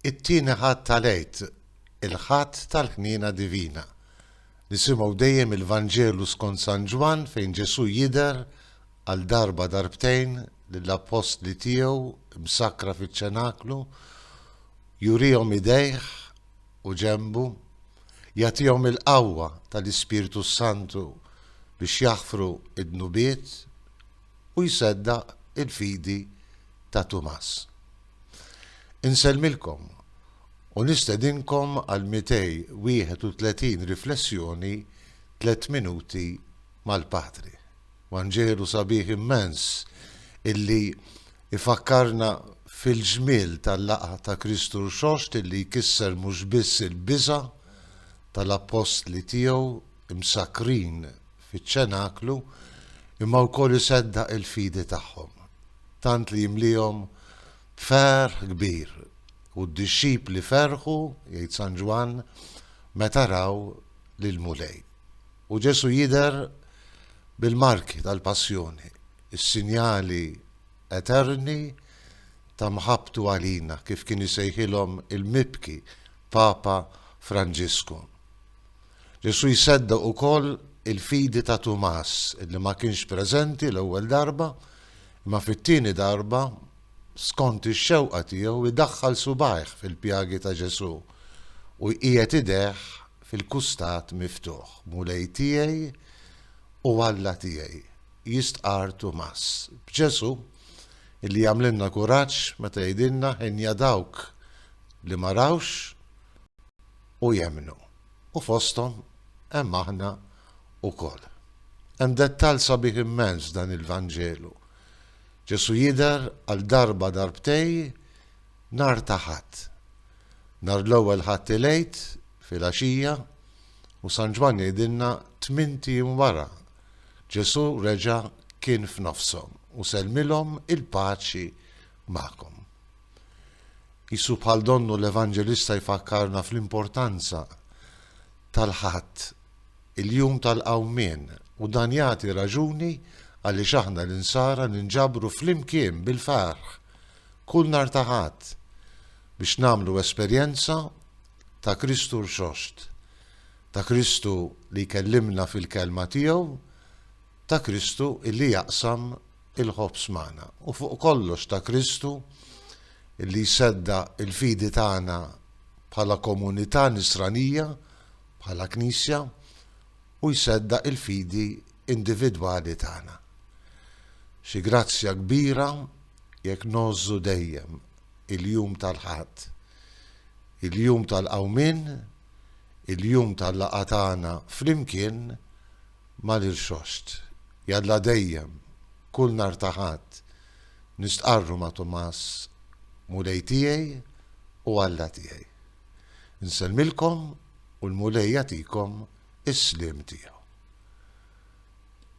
It-Tieni Ħadd tal-Għid, il-Ħadd tal-Ħniena Divina. Nisimgħu dejjem il-Vanġelu skont San Ġwann fejn Ġesù jidher għal darba darbtejn lill-appostli tiegħu msakkra fiċ-ċenaklu, jurihom idejh u ġenbu, jagħtihom il-qawwa tal-Ispirtu s-Santu biex jaħfru d-dnubiet, u jseddaq il-fidi ta' Tumas. Insellmilkom u nistedinkom għal 231 riflessjoni Tliet Minuti mal-Patri. Vanġelu sabiħ immens illi jfakkarna fil-ġmiel tal-laqgħa ta' Kristu Rxoxt illi jkisser mhux biss il-biża' tal-appostli tiegħu, imsakkrin fiċ-ċenaklu, imma wkoll iseddaq il-fidi tagħhom, tant li jimliehom b'ferħ kbir, u d-dixxipli ferħu, jgħid San Ġwann, meta raw lill-Mulej. U Ġesù jidher bil-marki tal-Passjoni, is-sinjali eterni ta' mħabbtu għalina, kif kien isejħilhom il-mibki Papa Franġisku. Ġesù jseddaq ukoll il-fidi ta' Tumas li ma kienx preżenti l-ewwel darba, imma fit-tieni darba, skont ix-xewqa tiegħu, idaħħal subgħajh fil-pjagi ta' Ġesù u jqiegħed idejh fil-kustat miftuħ. Mulej tiegħi u Alla tiegħi! jistqarr Tumas, b'Ġesù li jagħmlilna kuraġġ meta jgħidilna, Ħinja dawk li ma rawx, u jemmnu, u fosthom hemm aħna wkoll. Hemm dettall sabiħ immens f'dan il-Vanġelu. Ġesù jidher għal darba darbtej nhar ta' Ħadd. Nhar l-ewwel Ħadd il-Għid filgħaxija u San Ġwann jgħidilna tmint ijiem wara Ġesù reġa' kien f'nofshom u sellmilhom il-paċi magħkom. Qisu bħal donnu l-Evanġelista jfakkarna fl-importanza tal-Ħadd, il-jum tal-Qawmien, u dan jagħti raġuni għaliex aħna l-Insara ninġabru flimkien bil-ferħ kull nhar ta' Ħadd biex nagħmlu esperjenza ta' Kristu rxoxt, ta' Kristu li jkellimna fil-Kelma tiegħu, ta' Kristu illi jaqsam il-ħobż magħna, u fuq kollox ta' Kristu illi jseddaq il-fidi tagħna bħala komunità Nisranija, bħala Knisja, u jseddaq il-fidi individwali tagħna. Xi grazzja kbira jekk ngħożżu dejjem il-jum tal-Ħadd, il-jum tal-Qawmien, il-jum tal-laqgħa tagħna flimkien Ma nirxoxt, jalla dejjem, kull nhar ta' Ħadd, nistqarru ma' Tumas, Mulej tiegħi u Alla tiegħi. Insellmilkom u l-Mulej jagħtikom is-sliem tiegħu.